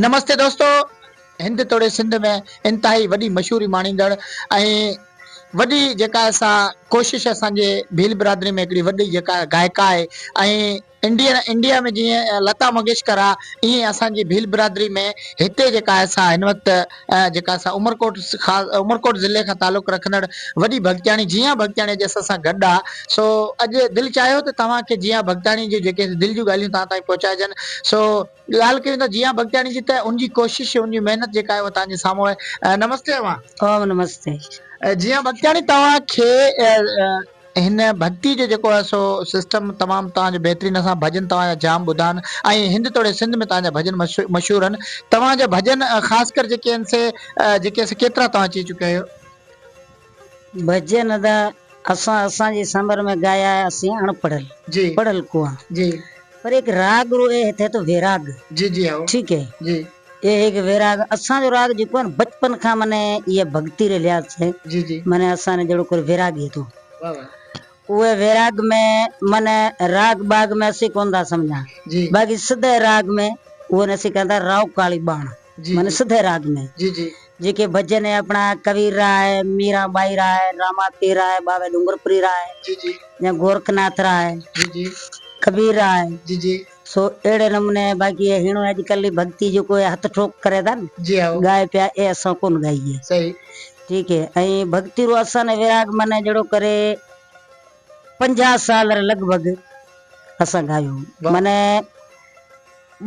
نمستي دوستو هند توڙي سنڌ ۾ انتهائي وڏي مشهوري ماڻيندڙ ۽ وڏي جيڪا سا ڪوشش اسان جي ڀيل برادري ۾ هڪڙي وڏي جيڪا گائڪا آهي ۽ انڊيا انڊيا ۾ جيئن لتا منگيشڪر آهي ايئن اسان جي ڀيل برادري ۾ هتي جيڪا سا هن وقت ۽ جيڪا اسان عمرڪوٽ عمرڪوٽ ضلعي کان تعلق رکندڙ وڏي ڀڳتياڻي جيان ڀڳتياڻي اڄ اسان سان گڏ آ سو اڄ دل چاهيو ته توهان کي جيان ڀڳتياڻي جون جيڪي دل جون ڳالهيون توهان تائين پهچائجن سو ڳالهه ڪيون ته جيان ڀڳتياڻي جي ته ان جي ڪوشش ان جي محنت جيڪا آهي اها توهان جي سامهون آهي نمستي امان اوم نمستي جيان ڀڳتياڻي توهان کي هن ڀڳتي جو جيڪو آهي سو سسٽم تمام توهان جو بهترين اسان ڀڄن توهان جا جام ٻڌا آهن ۽ هند توڙي سنڌ ۾ توهان جا ڀڄن مشهور آهن توهان جا ڀڄن خاص ڪر جيڪي آهن سي جيڪي آهن سي ڪيترا توهان چئي چڪيا آهيو. ڀڄن ته اسان اسان جي سمر ۾ ڳايا آهي اسين اڻ پڙهيل جي پڙهيل ڪوان جي پر هڪ راڳ روئي هٿي ٿو ويراڳ جي جي هائو ٺيڪ هي جي. اهي هڪ ويراڳ اسان جو راڳ جيڪو آهي نه بچپن کان مني اهي ڀڳتي ري لحاظ سين جي جي مني اسان ني جهڙو ڪوري ويراڳي هتو واه واه اوهي ويراڳ ۾ مني راڳ ٻاڳ ۾ اسين ڪون ٿا سمجهان جي باقي سڌي راڳ ۾ اوهي ني اسين ڪهن ٿا رائو ڪاڙي ٻاڻ جي مني جي سڌي راڳ ۾ جي جي جيڪي ڀڄن اهي اپڻا ڪبير را آهي ميران ٻائي را آهي راما پير را آهي ٻاوهي ڏونگرپوري را آهي جي جي جا گورک ناٿ را آهي جي جي ڪبير را آهي جي جي. سو اهڙي نموني باقي اهي هيڻو اڄڪلھ جي ڀڳتي جيڪو اهي هٿ ٺوڪ ڪري ٿا نه جي هائو ڳائي پيا اهي اسان ڪونه ڳائي صحيح ٺيڪ هي ۽ ڀڳتي رو اسان ني وراڳ معنيٰ جهڙو ڪري پنجاهه سال ري لڳ ڀڳ اسان ڳايو واهه. معنيٰ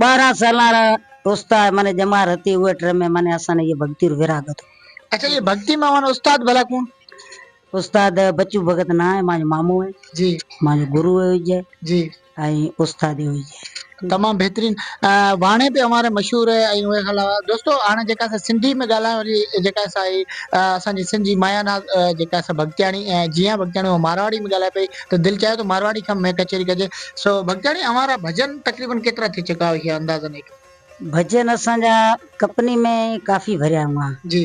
ٻارهن سالان را استاد معنيٰ ڄمار هتي اهي ٽرمي معنيٰ اسان ني اهي ڀڳتي رو وراڳ هتو اچا اهي ڀڳتي مان معنيٰ استاد ڀلا ڪوڻ؟ استاد بچو ڀڳت نانء مان جو مامو هئي جي مان جو گرو هئي جي جي ۽ استاد هئي جي. تمام بهترين واڻي پي اوهان ري مشهور هي ۽ انهي کان علاوه دوستو هاڻي جيڪا سا سنڌي ۾ ڳالهائڻ واري جيڪا سا هي اسان جي سنڌ جي مايا ناز جيڪا سا ڀڳتياڻي ۽ جيان ڀڳتياڻي هو مارواڙي ۾ ڳالهائي پئي ته دل چاهيو ته مارواڙي کان ۾ ڪچهري ڪجي سو ڀڳتياڻي اوهان را ڀڄن تقريبن ڪيترا ٿي چڪا هيا اندازن هڪ. ڀڄن اسان جا ڪپني ۾ ڪافي ڀريا هئا جي.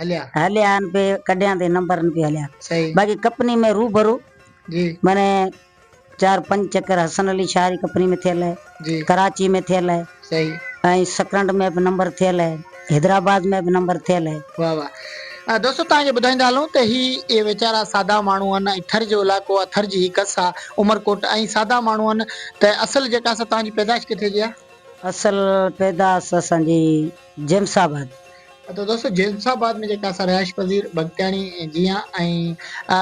هليا. هليا آهن پي ڪڍيان تي نمبر نه پي هليا صحيح باقي ڪپني ۾ روبرو جي مني چار پنج چڪر حسن علي شاهه جي ڪپني ۾ ٿيل آهي جي ڪراچي ۾ ٿيل آهي صحيح ۽ سڪرنڊ ۾ به نمبر ٿيل آهي حيدرآباد ۾ به نمبر ٿيل آهي. واھ واھ دوستو توهان کي ٻڌائيندا هلون ته هي اهي ويچارا سادا ماڻهو آهن ۽ ٿر جو علائقو آهي ٿر جي هي ڪس آهي عمرڪوٽ ۽ سادا ماڻهو آهن ته اصل جيڪا سا توهان جي پيدائش ڪٿي جي آهي؟ اصل پيداس اسان جي جيمس آباد. ته دوستو جيمس آباد ۾ جيڪا اسان رهائش پذير بگٽياڻي جيان ۽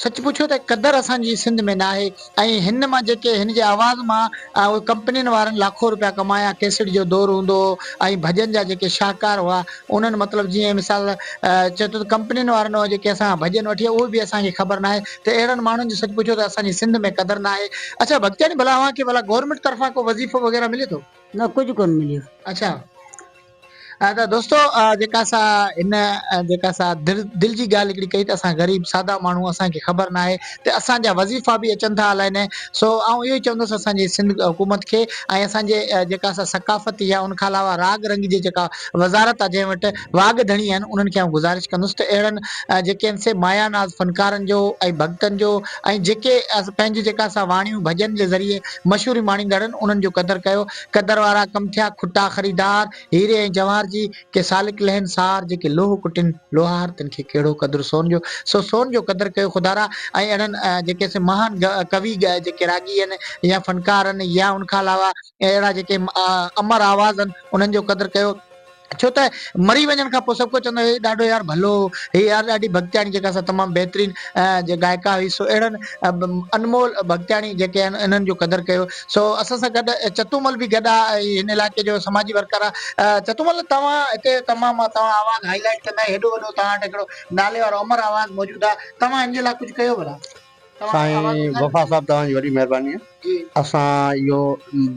سچ پڇو ته قدر اسان جي سنڌ ۾ ناهي ۽ هن مان جيڪي هن جي آواز مان اهي ڪمپنين وارن لاکو روپيا ڪمايا ڪيسٽ جو دور هوندو هو ۽ ڀڄن جا جيڪي شاهڪار هئا انهن مطلب جيئن مثال چئي ٿو ته ڪمپنين وارن جيڪي اسان کان ڀڄن وٺي اهي به اسان کي خبر ناهي ته اهڙن ماڻهن جي سچ پڇو ته اسان جي سنڌ ۾ قدر ناهي اڇا بگٽياڻي ڀلا اوهان کي ڀلا گورنمينٽ طرفان ڪو وظيفو وغيره ملي ٿو. نه ڪجهه ڪونه مليو. اڇا ته دوستو جيڪا سا هن جيڪا سا دل جي ڳالهه هڪڙي ڪئي ته اسان غريب سادا ماڻهو اسان کي خبر ناهي ته اسان جا وظيفا به اچن ٿا الائي نه سو آئون اهو ئي چوندس اسان جي سنڌ حڪومت کي ۽ اسان جي جيڪا سا ثقافت يا ان کان علاوه راڳ رنگ جي جيڪا وزارت آهي جنهن وٽ واڳ ڌڻي آهن انهن کي آئون گذارش ڪندس ته اهڙن جيڪي آهن سي مايا ناز فنڪارن جو ۽ ڀڳتن جو ۽ جيڪي پنهنجي جيڪا سا واڻيون ڀڄن جي ذريعي مشهوري ماڻيندڙن انهن جو قدر ڪيو. قدر وارا ڪم ٿيا کٽا خريدار، هيري ۽ جواهر جي، ڪي سالڪ لهن سار، جيڪي لوهه ڪٽين لوهار، تن کي ڪهڙو قدر سون جو، سو سون جو قدر ڪيو خدارا ۽ اهڙن جيڪي سي مهان ڪوي جيڪي راڳي هن يا فنڪار هن يا ان کان علاوه اهڙا جيڪي امر آواز هن انهن جو قدر ڪيو. ڇو ته مري وڃڻ کان پوء سڀ ڪو چوندو هي ڏاڍو يار ڀلو هي يار ڏاڍي ڀڳتياڻي جيڪا سا تمام بهترين جي گائڪا هئي سو اهڙن انمول ڀڳتياڻي جيڪي آهن انهن جو قدر ڪيو سو اسان سان گڏ چتومل به گڏ آ هن علائقي جو سماجي ورڪر آ چتومل توهان هتي تمام مان توهان آواز هائي لائيٽ ڪندا هيڏو وڏو توهان وٽ هڪڙو نالي وارو امر آواز موجود آ توهان هن جي لاء ڪجهه ڪيو ڀلا. سائين وفا صاحب توهان جي وڏي مهرباني آهي اسان اهو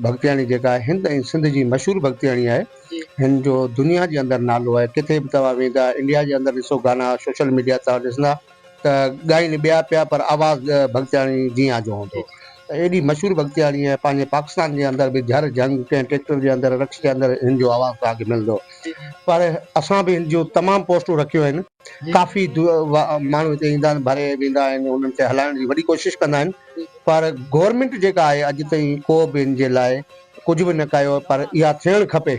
ڀڳتياڻي جيڪا آهي هند ۽ سنڌ جي مشهور ڀڳتياڻي آهي هن جو دنيا جي اندر نالو آهي ڪٿي به توهان ويندا انڊيا جي اندر ڏسو گانا سوشل ميڊيا توهان ڏسندا ته ڳائين ٻيا پيا پر آواز ڀڳتياڻي جيان جو هوندو ته ايڏي مشهور ڀڳتياڻي آهي پنهنجي پاڪستان جي اندر به جهر جهنگ ڪنهن ٽريڪٽر جي اندر رڪش جي اندر هن جو آواز توهان کي ملندو پر اسان به هن جون تمام پوسٽون رکيون آهن. ڪافي ماڻهو هتي ايندا آهن ڀري ويندا آهن انهن کي هلائڻ جي وڏي ڪوشش ڪندا آهن پر گورنمينٽ جيڪا آهي اڄ تائين ڪو به ان جي لاء ڪجهه به نه ڪيو پر اها ٿيڻ کپي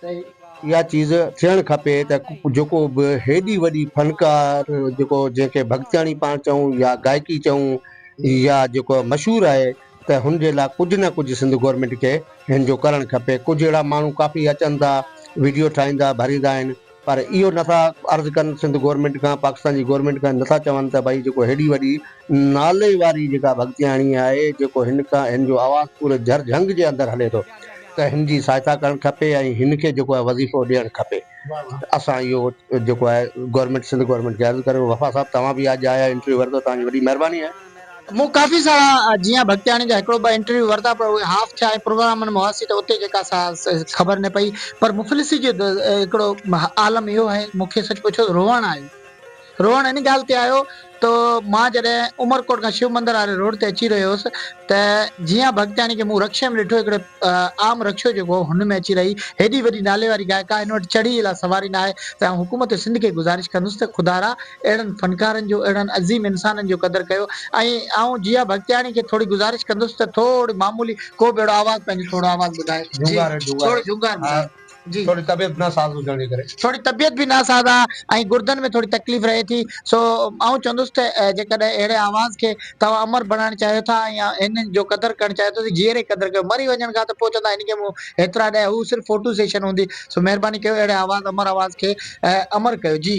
اها چيز ٿيڻ کپي ته جيڪو به هيڏي وڏي فنڪار جيڪو جنهن کي ڀڳتياڻي پاڻ چئون يا گائڪي چئون يا جيڪو مشهور آهي ته هن جي لاء ڪجهه نه ڪجهه سنڌ گورنمينٽ کي هن جو ڪرڻ کپي ڪجهه اهڙا ماڻهو ڪافي اچن ٿا ويڊيو ٺاهيندا ڀريندا آهن پر اهو نٿا عرض ڪن سنڌ گورنمينٽ کان پاڪستان جي گورنمينٽ کان نٿا چون ته ڀائي جيڪو هيڏي وڏي نالي واري جيڪا ڀڳتياڻي آهي جيڪو هن کان هن جو آواز پوري جھر جھنگ جي اندر هلي ٿو ته هن جي سهائتا ڪرڻ کپي ۽ هن کي جيڪو آهي وظيفو ڏيڻ کپي اسان اهو جيڪو آهي گورنمينٽ سنڌ گورنمينٽ کي عرض ڪريون وفا صاحب توهان به اڄ آيا انٽرويو ورتو توهان جي وڏي مهرباني آهي. مون ڪافي سارا جيان ڀڳتياڻي جا هڪڙو ٻه انٽرويو ورتا پر اهي هاف ٿيا ۽ پروگرامن ۾ هئاسين ته اتي جيڪا سا خبر نه پئي پر مفلسي جو هڪڙو عالم اهو آهي مون کي سچ پڇو ته روئڻ آيو روئڻ ان ڳالهه تي آيو ته مان جڏهن عمرڪوٽ کان شو مندر واري روڊ تي اچي رهيو هوس ته جيان ڀڳتياڻي کي مون رڪشي ۾ ڏٺو هڪڙي عام رڪشو جيڪو هن ۾ اچي رهي هيڏي وڏي نالي واري گائڪا هن وٽ چڙهي لا سواري ناهي ته آئون حڪومت سنڌ کي گذارش ڪندس ته خدارا اهڙن فنڪارن جو، اهڙن عظيم انسانن جو قدر ڪيو ۽ آئون جيا بختياڻي کي ٿوري گذارش ڪندس ته ٿوري معمولي ڪو به اهڙو آواز پنهنجو ٿورو آواز ٻڌائي. جهونگار هي جهونگار. ٿورو جهونگار ٻڌائي. جي. ٿوري طبيعت ناساز هجڻ جي ڪري. ٿوري طبيعت به ناساز آ ۽ گردن ۾ ٿوري تڪليف رهي ٿي سو آئون چوندس ته جيڪڏهن اهڙي آواز کي توهان امر بڻائڻ چاهيو ٿا ۽ هن جو قدر ڪرڻ چاهيو ٿا ته جيئري قدر ڪيو مري وڃڻ کان ته پوء چوندا هن کي مون هيترا ڏيا هو صرف فوٽو سيشن هوندي سو مهرباني ڪيو اهڙي آواز امر آواز کي امر ڪيو جي.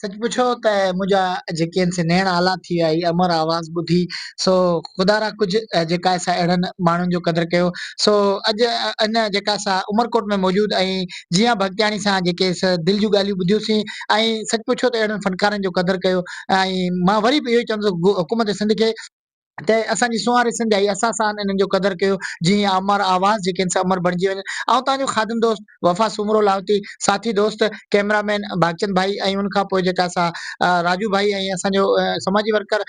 سچ پڇو ته منهنجا جيڪي آهن سي نيڻ آلا ٿي ويا هي امر آواز ٻڌي سو خدا را ڪجهه جيڪا آهي سا اهڙن ماڻهن جو قدر ڪيو سو اڄ ان جيڪا آهي سا عمرڪوٽ ۾ موجود ۽ جيان ڀڳتياڻي سان جيڪي سا دل جون ڳالهيون ٻڌيوسين ۽ سچ پڇو ته اهڙن فنڪارن جو قدر ڪيو ۽ مان وري به اهو ئي چوندس حڪومت سنڌ کي ته اسان جي سونهاري سنڌ آئي اسان سان انهن جو قدر ڪيو جي هي امر آواز جيڪي آهن سي امر بڻجي وڃن آئون توهان جو خادم دوست وفا سومرو لاهوتي ساٿي دوست ڪئميرا مين ڀاڳچند ڀائي ۽ ان کان پوء جيڪا سا راجو ڀائي ۽ اسان جو سماجي ورڪر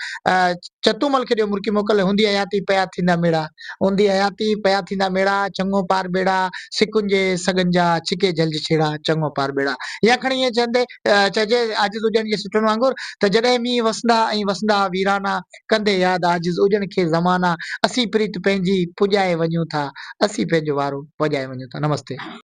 چتو مل کي ڏيو مرڪي موڪل هوندي حياتي پيا ٿيندا ميڙا هوندي حياتي پيا ٿيندا ميڙا چڱو پار ٻيڙا سڪن جي سڳن جا ڇڪي جهلج ڇيڙا چڱو پار ٻيڙا يا کڻي ائين چوندي چئجي عاجز هجڻ جي سٽن وانگر ته جڏهن مينهن وسندا ۽ وسندا ويرانا ڪندي ياد عاجز اجڻ کي زمانا اسين پريت پنهنجي پڄائي وڃون ٿا اسين پنهنجو وارو پڄائي وڃون ٿا نمستي.